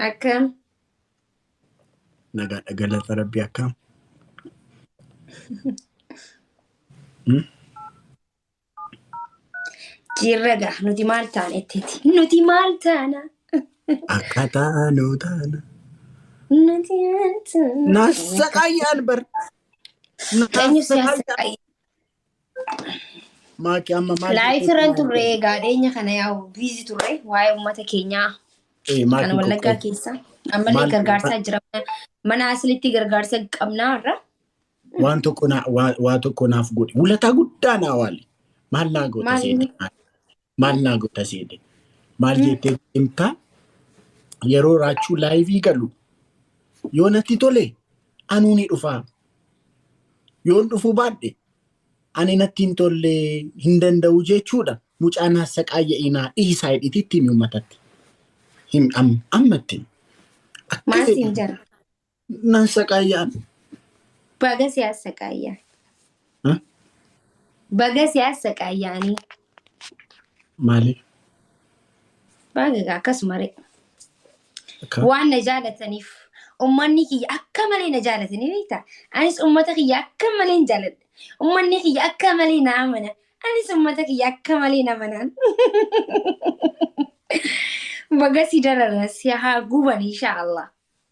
Akkam? Nagaadha galata rabbi akkam? Hmm? Jirra gaa nuti maal taana ittiiti? Nuti maal taana? Akkaataa nuu taana. Nuti maal taana? Naasaqayyaan bar. Eenyu si Naasaqayyaan. haasa'e? Maaki amma maal Laayif jechuutti irran maal turre jedhama? egaa dhiyeenya kana yaa'u biizi turre waa'ee uummata keenyaa Eh, kan Maaki wallaggaa qoqqood. keessa ammallee Maal gargaarsaa jira mana asilitti gargaarsa qabnaa irra waan tokko naa- waa waa tokko naaf godhi. Wulataa guddaa naa waali. Maal naa goota maal seetii? inni maal naa goota seete maal jettee himta yeroo raachuu laayivii galu yoo natti tole anuu ni dhufaa yoon dhufuu baadhe ani natti hin tolle hin danda'u jechuudha mucaan hassaqaayya inaa dhiisaa hidhititti himi ummatatti him am- ammatti akka maal fedhe siin jedha Nan saqaayaan. Baga si assaqaayyaa. Huh? Baga si assaqaayyaanii. Maaliif? Baga egaa akkasuma ree. Akka Waan na jaalataniif ummanni kiyya akka malee na jaalatanii beekta. Anis ummata kiyya akka malee hin jaaladha. Ummanni kiyya akka malee na amana. Anis ummata kiyya akka malee na amanaan. Baga si darara si haa guban inshaallah.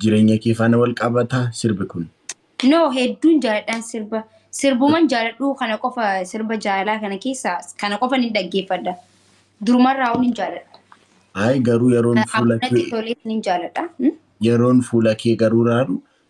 Jireenya kee faana wal qabata sirbi kun. No hedduun jaaladhaan sirba sirbuman jaaladhuu kana qofa sirba jaalalaa kana keessa kana qofa ni dhaggeeffadha. Durumarraa hin jaaladha. Ayi garuu yeroon fuula Natti kee tolee ni jaaladha. Hmm? yeroon fuula kee garuu raaru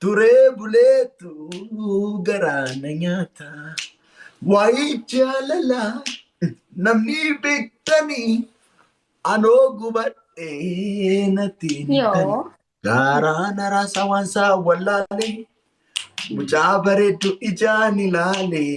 Turee buleetu garaa na nyaata. Waa'ee jaalalaa namni beektanii anoo gubadhee natti hin Yoo. tani. Garaa na raasaa waan isaa wallaalee. Mucaa bareeddu ijaan ilaalee.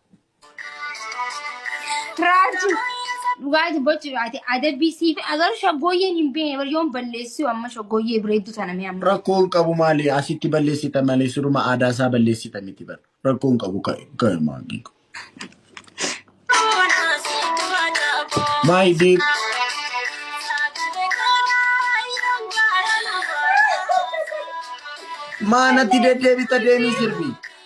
Raartu dhugaati bochi ati adabbii siif agaruu shaggooyyeen hin beekne bar yoon balleessuu amma shaggooyyee bireedduu tana mee amma. Rakkoon qabu maali asitti balleessita malee siruma aadaa isaa balleessita miti bar rakkoon qabu ka'e ka'e maangii. My dear. Maanatti deddeebita deemii sirbii.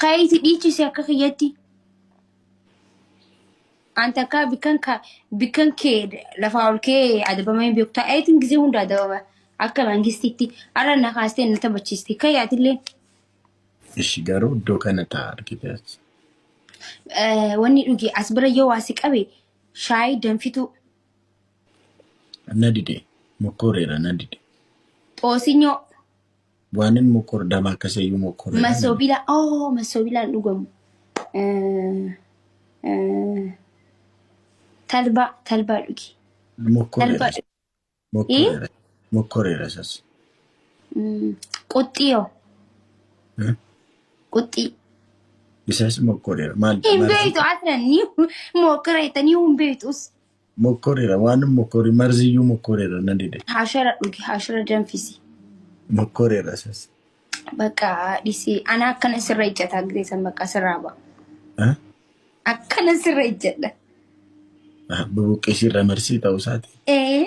Keeyti dhiichisi akka kiyyatti. An takka bikkan ka bikkan kee lafaa ol kee adabamee beektu ta'eetiin gisee hunda adabama akka mangistiitti arra na kaastee na taphachiisti kayyaatillee Ishi garuu iddoo kana ta'a argite achi. eh, wanni dhuge as bira yoo waa si qabe shaayii danfituu Na dide. Mokkoreera na dide. xoosinyo Waanin mokkor dama akkasayyuu mokkorre dha. Masobila oh masobilaan dhugamu. Eh, eh, Talbaa talbaa dhugi. Mokkorre Talbaa dha. dhugi. Mokkorre dha. Mokkorre dha sas. Mm, Quxxii yoo Eh? quxxii. Isas mokkorre dha. Maal Hin maal- beektu asirra ni mokkora jettanii hin beektus. Mokkorera waan mokkori marziyyuu mokkorera na dide. Hashara dhugi hashara danfisi. Mokkorera sas. Bakka dhisi ana akkana sirra ijjata gizee san bakka sirraa ba'a. Ha? Akkana sirra ijjadha. Ah, Bubuqqisii irra marsii ta'uu isaati. Ee.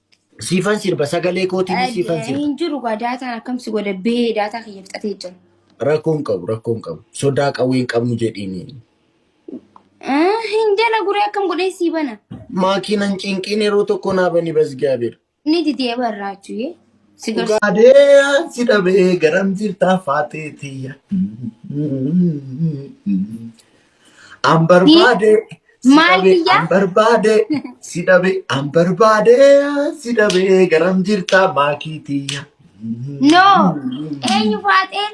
Siifan sirba sagalee kootiin siifan sirba. Hin jiru gaa daataan akkam si godha bee daataa kiyya fixatee jira. Rakkoo hin qabu rakkoo hin qabu. Sodaa qawwee hin qabnu jedhiini. Ah, Hin jala guree akkam godhee sii bana. Maakiinan cinqiin yeroo tokko naa bani basgaabeera. Ni didee barraachuu yee. Si garsi. Gaadee si dhabee garam jirtaa faatee tiyya. An barbaade si Maal dhabe biyya? an barbaade si dhabe an barbaade si dhabe garam jirta maakii tiyya. No. Eenyu faaxee?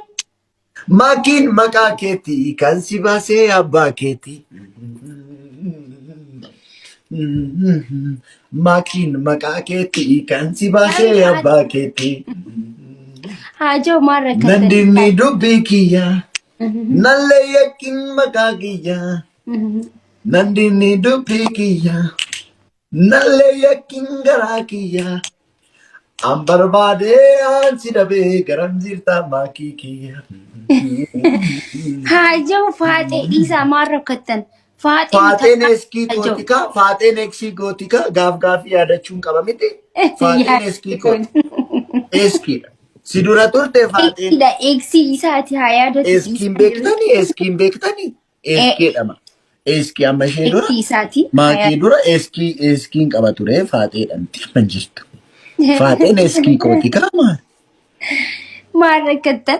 Maakiin maqaa keeti kan si baasee abbaa keeti. Maakiin maqaa keeti kan si baasee abbaa keeti. Haajoo maal rakkatan? Nandinni dubbii kiyya Nallee yakkin maqaa kiyya. Nan dinni dubbii kiyya. Nallee yakkin garaa kiyya. An barbaadee aan si dhabee garam jirtaa maakii kiyya. Haajaa faaxee dhiisaa maal rakkattan? Faaxeen Faaxeen takka eskii ajoo. gooti kaa faaxeen eksii gooti kaa gaaf gaafii yaadachuun qaba miti. Faaxeen eskii gooti. Eskiidha. Si dura turte faaxeen Eksiidha eksi isaati haa yaadatu. eskiin beektanii eskiin beektanii eskeedhama. Eskii amma ishee dura Eksi isaati. haa maakee yaadatu. dura eskii eskiin qaba ture faaxeedhamti amma jirtu. Faaxeen eskii gooti kaa maal? Maal rakkattan?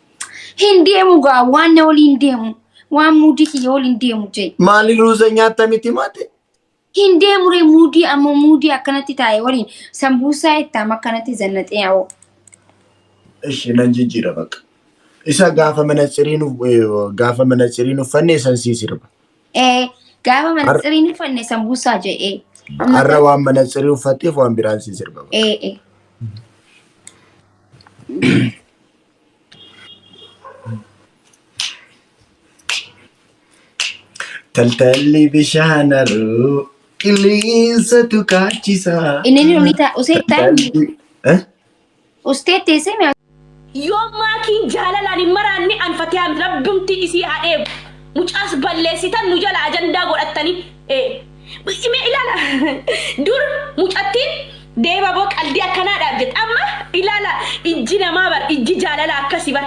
Hin deemu gaa waan na waliin deemu waan muudii kiyya waliin deemu jee. Maali ruuza nyaatta miti maate? Hin deemu ree muudii ammoo muudii akkanatti taa'e waliin sambuusaa ittaam akkanatti zannaxee awoo. Ishi nan jijjiira bakka. Isa gaafa manatsiriin uf- eh, gaafa manatsiriin uffanne isan sii sirba. Ee gaafa mana Har- siriin uffanne sambuusaa jee ee. Amma Har'a waan manatsirii uffatteef waan biraan sii sirba. ee ee. Taltalli bishaan haroo qilleensatu kaachisa. Inni ni dhumita. Usee taan. Ustee teessee mi Yoo maakiin jaalalaan hin maraanne an fatiyaa miti rabbumti isii haa eegu mucaas balleessitan nu jala ajandaa godhattanii ee. Mee ilaala dur mucattiin deebaboo qaldii akkanaa dhaaf jette amma ilaala ijji namaa bar ijji jaalala akkasi bar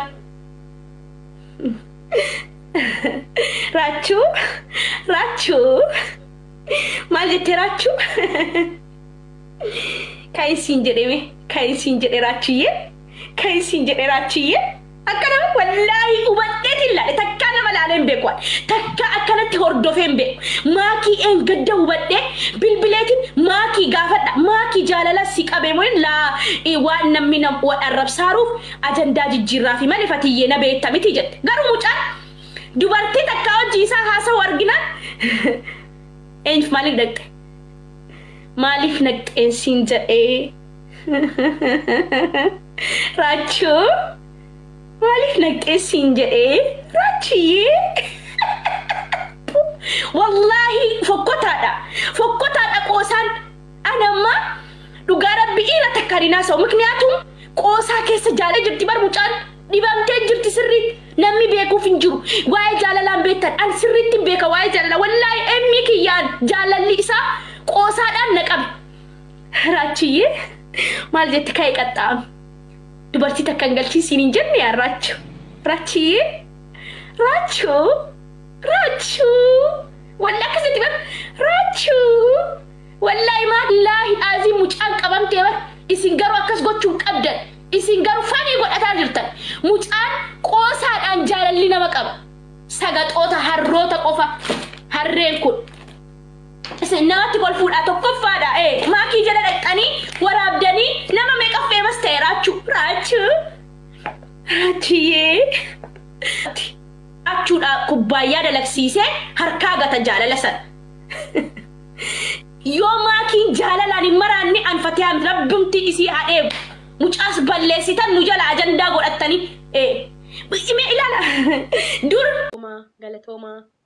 raachuu raachuu maal jettee raachuu kan isiin jedhe mee kan isiin jedhe raachuyyee kan isiin jedhe raachuyyee. Akka nama wallaahi hubadheeti hin laale takkaa nama laalee hin beeku ani takkaa akkanatti hordofee hin beeku maakii dheengadda hubadhee bilbileetiin maakii gaafadha maakii jaalala si qabee moo laa i waan nammi nam wal arrabsaaruuf ajandaa jijjiirraafi male fatiyyee na beetta miti jette garuu mucaan dubartii takkaa wajji isaa haasahu arginaan eenyf maaliif dhaqxe maaliif naqxeen siin jedhee. Raachuu maaliif naqqeessiin jedhee raachiyyee wallaahi fokkotaadha fokkotaadha qoosaan ani amma dhugaa rabbi dhiira takkaan hin haasa'u mikniyaatum qoosaa keessa jaalee jirti bar mucaan dhibamtee jirti sirriitti namni beekuuf hin jiru waa'ee jaalalaan beektan an sirriitti hin beeka waa'ee jaalalaa wallaahi emmii kiyyaan jaalalli isaa qoosaadhaan na qabe Raachiyyee maal jette ka'e qaxxaam. Dubartii takka hin galchiin siin hin jenne yaa raachu. Raachiyyee raachu raachu walla akkas jetti bar raachu wallaahi maallaahi aazii mucaan qabamtee bar isin garuu akkas gochuun qabdan isin garuu fanii godhataa jirtan mucaan qoosaadhaan jaalalli nama qaba sagaxoota harroota qofa harreen kun. Isin namatti kolfuudhaa tokkoffaadhaa ee maakii jala dhaqxanii waraabdanii nama meeqa feemas ta'e raachuu raachuu raachuyyee raachuudhaa kubbaayyaa dalagsiisee harkaa gata jaalala san yoo maakiin jaalalaan hin maraanne an fatiyaan rabbumti isii haa dheegu mucaas balleessitan nu jala ajandaa godhattanii ee mee ilaala dur Galatoomaa, galatoomaa,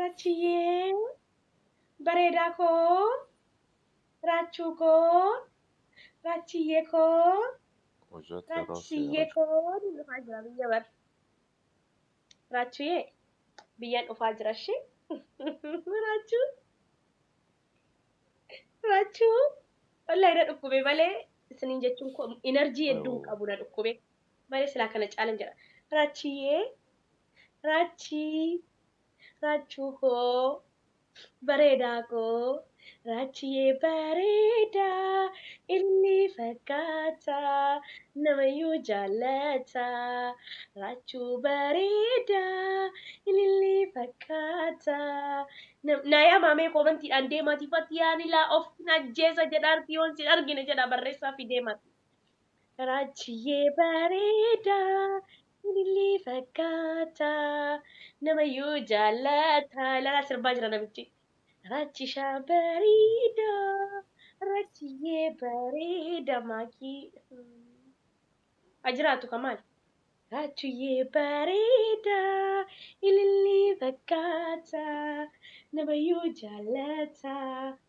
Rachiyyee bareedaa koo Raachuu koo Raachiyyee koo Hojjatti yeroo Raachiyyee seera. koo ni dhufaa jira biyya bar Raachuyyee biyyan dhufaa jira shi Raachuu Raachuu wallahi na dhukkube malee isiniin jechuun koo energy hedduun Yoo. qabu na dhukkube malee silaa kana caalan jedha Raachiyyee Raachii Raachuu koo bareedaa koo Raachiyee bareedaa ilmi fakkaata namayyuu jaallata Raachuu bareedaa ililli fakkaata nam- naa yaa maamee koomantiidhaan deemaati fatiyaan ilaa of hin ajjeesa jedha arti yoon sin argine jedha barreessaa fi deemaati. Raajjiyyee bareedaa ilillii fakkaata namayyuu jaallata ilaalaa sirbaa jira namichi raajjishaa bareedaa raajjiyyee bareedaa maakii ha jiraatu ka maal raajjiyyee bareedaa ilillii fakkaata namayyuu jaallata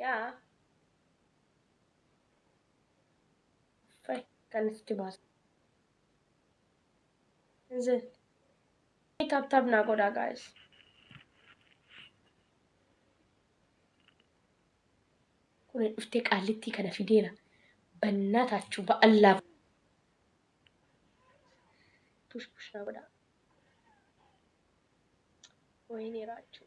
yaa fay kan itti baasa inzil ni tap tap naa godhaa gaayis kun dhuftee qaallittii kana fideera bannaa taachuu ba'allaaf push push naa godhaa wayinii raachuu